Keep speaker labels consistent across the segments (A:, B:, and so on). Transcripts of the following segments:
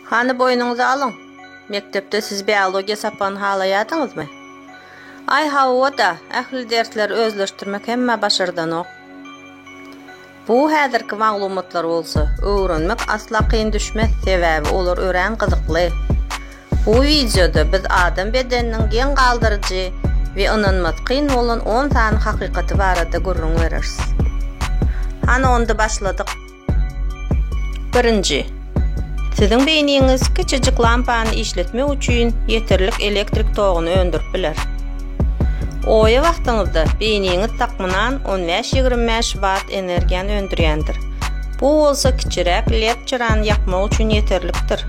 A: Hany boýnuňyza alyň. Mekdepde siz biologiýa sapagyny halaýadyňyzmy? Aý hawa-da, ähli dersleri özleşdirmek hemmä başardanok. Bu häzirki maglumatlar bolsa, öwrenmek asla kyn düşmez, sebäbi olar örän gyzykly. Bu wideoda biz adam bedeniniň geň galdyryjy we ynanmasy kyn bolan on sany hakykaty barada gürrüň bereris. Hany onda başladyk. Birinji. Siziň beýniňiz kiçijik lampany işletmek üçin ýeterlik elektrik toguny öndürip biler. Oýa wagtyňyzda beýniňiz takmynan on bäş-ýigrimi bäş watt energiýany öndürýändir. Bu bolsa kiçiräk led çyrany ýakmak üçin ýeterlikdir.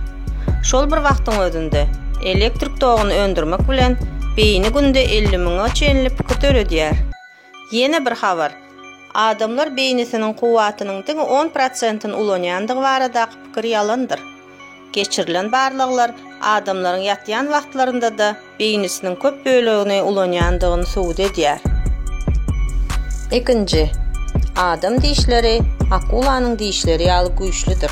A: Şol bir wagtyň özünde, elektrik toguny öndürmek bilen beýni günde elli müňe çenli pikir döredýär. Ýene bir habar. Adamlar beýnisiniň kuwwatynyň diňe on prosentini ulanýandygy baradaky pikir ýalandyr. Geçirilen barlaglar adamlaryň ýatýan wagtlarynda-da beýnisiniň köp bölegini ulanýandygyny subut edýär. Ikinji. Adam dişleri akulanyň dişleri ýaly güýçlüdir.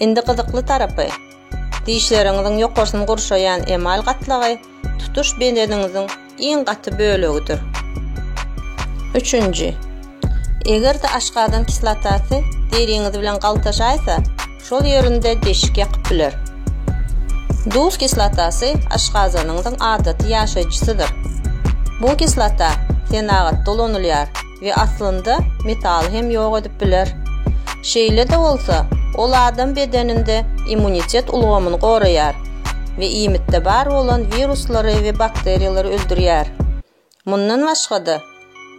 A: Indi gyzykly tarapy, dişleriňiziň ýokarsyny gurşaýan emal gatlagy tutuş bedeniňiziň iň gaty bölegidir. Üçünji, eger-de aşgazan kislotasy deriňiz bilen galtaşaýsa, şol ýerinde deşik ýakyp biler. Duz kislotasy aşgazanyňyzyň adaty ýaşaýjysydyr. Bu kislota senagatda ulanylýar. we aslynda metaly hem ýok edip biler. Şeýle-de bolsa, ol adam bedeninde immunitet ulgamyny goraýar we iýmitde bar bolan wiruslary we bakteriýalary öldürýär. Mundan başga-da,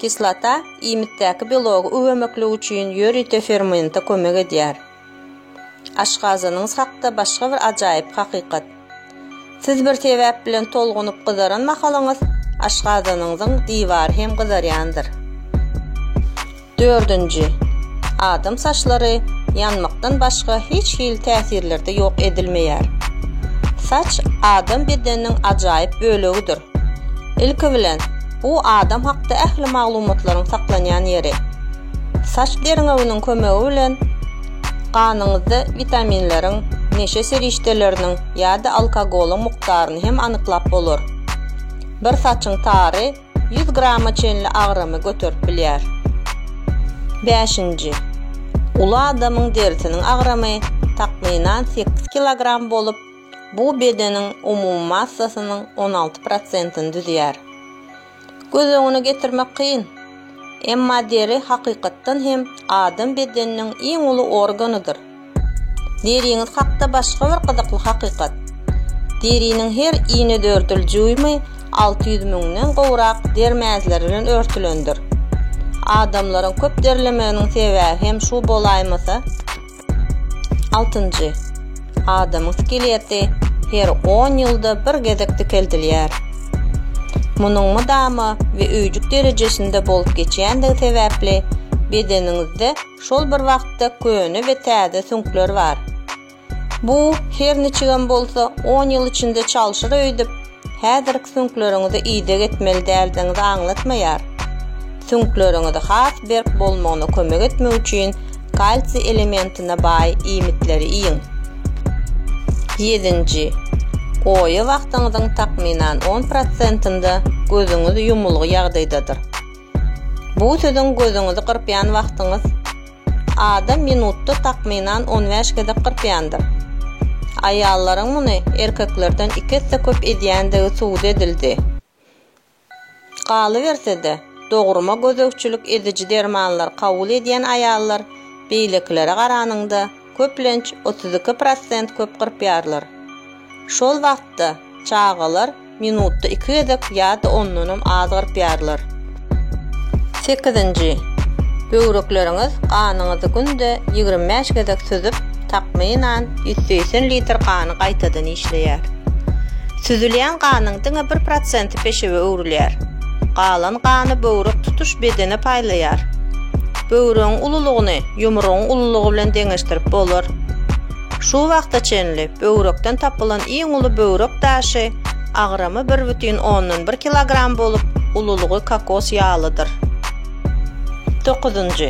A: kislota iýmitdäki belogy üwemeklik üçin ýörite fermente kömek edýär. Aşgazanyňyz hakda başga bir ajaýyp hakykat. Siz bir sebäp bilen tolgunyp gyzaran mahalyňyz, aşgazanyňyzyň diwary hem gyzarýandyr. Dördünji, adam saçlary ýanmakdan başga hiç hili täsirlerde ýok edilmeýär. Saç adam bedeniniň ajaýyp bölegidir. Ilki bilen, bu adam hakda ähli maglumatlaryň saklanýan ýeri. Saç derňewiniň kömegi bilen ganyňyzda witaminleriň, neşe serişdeleriniň ýa-da alkogolyň mukdaryny hem anyklap bolar. Bir saçyň tary ýüz grama çenli agramy göterip bilýär. Bäşinji. Uly adamyň derisiniň agramy takmynan sekiz kilogram bolup, bu bedeniň umumy massasynyň on alty prosentini düzýär. Göz öňüne getirmek kyn. Emma deri hakykatdan hem adam bedeniniň iň uly organydyr. Deriňiz hakda başga bir gyzykly hakykat. Deriniň her inedördül jüými alty ýüz müňden gowrak der mäzleri bilen örtülendir. Adamlaryň köp derlemeginiň sebäbi hem şu bolaýmasa? Altynjy. Adamyň skeleti her on ýylda bir gezek dikeldilýär. Munuň mydama we öýjük derejesinde bolup geçýändigi sebäpli bedeniňizde şol bir wagtda köne we täze süňkler bar. Bu, her niçigem bolsa, on ýyl içinde çalşyr öýdüp, Häzirki süňkleriňizi ideg etmeli däldigiňizi aňlatmaýar. Süňkleriňizi has berk bolmagyna kömek etmek üçin kalsiý elementine baý iýmitleri iýiň. Ýedinji. Oýa wagtyňyzyň takmynan on prosentinde gözüňiz ýumulgy ýagdaýdadyr. Bu siziň gözüňizi gyrpýan wagtyňyz. Adam minutda takmynan on bäş gezek gyrpýandyr. Aýallaryň muny erkeklerden iki esse köp edýändigi subut edildi. Galyberse-de, dogruma gözegçilik ediji dermanlar kabul edýän aýallar beýlekilere garanyňda, köplenç otuz iki prosent köp gyrpýarlar. Şol wagtda çagalar Minutda iki gezek ýa-da ondanam az gyrpýarlar. Sekizinji, Böwrekleriňiz ganyňyzy günde ýigrimi bäş gezek süzüp, takmynan, ýüz segsen litr gany gaýtadan işleýär. Süzülýän ganyň diňe bir prosenti peşewe öwrülýär. Galan gany böwrek tutuş bedene paýlaýar. Böwregiň ululygyny ýumrugyň ululygy bilen deňeşdirip bolar. Şu wagta çenli böwrekden tapylan iň uly böwrek daşy, agramy bir bütin ondan bir kilogram bolup, ululygy kokos ýalydyr. Dokuzynjy.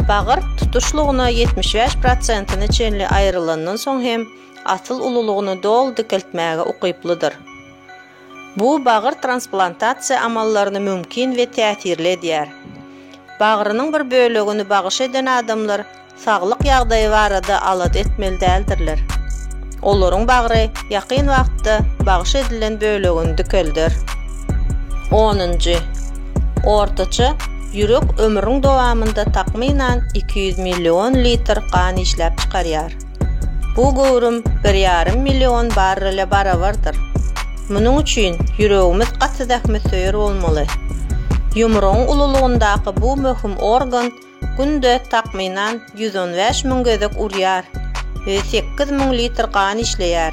A: Bagyr tutuşlygyna ýetmiş bäş prosentine çenli aýrylandan soň hem asyl ululygyny doly dikeltmäge ukyplydyr. Bu bagyr transplantasiýa amallaryny mümkin we täsirli edýär. Bagrynyň bir bölegini bagyş eden adamlar saglyk ýagdaýy barada alada etmeli däldirler. Olaryň bagry ýakyn wagtda bagyş edilen bölegini dikelder. Onunjy. Ortaça ýürek ömrüň dowamynda takmynan iki ýüz million litr gan işläp çykarýar. Bu göwrüm bir ýarym million barrele barabardyr. Munuň üçin ýüregimiz gaty zähmetsöýer bolmaly. Ýumrugyň ululygyndaky bu möhüm organ günde, takmynan, ýüz on bäş müň gezek urýar we sekiz müň litr gan işleýär.